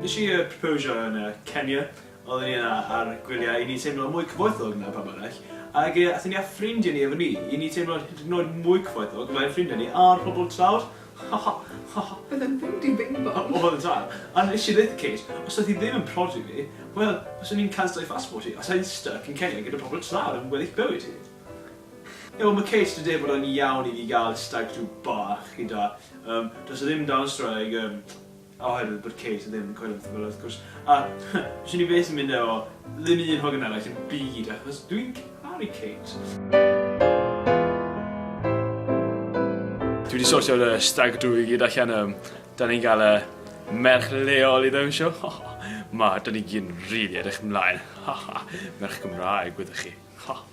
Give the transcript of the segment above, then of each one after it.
Nes i yy proposio yn yy Kenya, oedden ni yna ar gwyliau i ni teimlo mwy cyfoethog na pawb arall, ag yy athon ni â ffrindiau ni efo ni, i ni teimlo'n hyd yn oed mwy cyfoethog, mae'n ffrindiau ni a'r pobl tlawd, ha ha ha ha. Oedd e'n fynd i Bing Bong? Oedd yn dal, a nes i ddeutha Kate, os oedd hi ddim yn prodi fi, wel, fyswn i'n canslo ei phassport hi, a sa i'n styc yn Kenya gyda pobl tlawd am weddill bywyd hi. Yw ma case today bod o'n iawn i fi gael stag do bach gyda yym does e ddim dan strae ag yym oherwydd bod case ddim yn coelio petha fela wrth gwrs a does unig beth sy'n mynd efo ddim un hogan arall yn byd achos dwi'n caru cate. Dwi di sortio fy stag do i gyd allan yym dan ni'n gael yy merch leol i ddawnsio ma dan ni gyd yn rili edrych ymlaen merch Gymraeg wyddoch chi.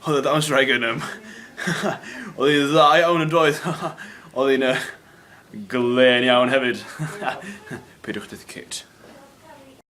Oedd e dawns wraig yn ym. Oedd hi'n dda iawn yn doedd. Oedd hi'n uh, glen iawn hefyd. Peidiwch byth Kate.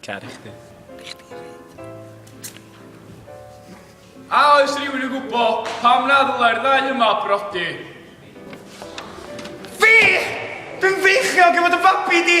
Caru chdi. I chdi hefyd. A oes rhywun yn gwybod pam na ddylai'r ddau yma brodi? Fi! Fi'n feichiog i fod yn fabi di!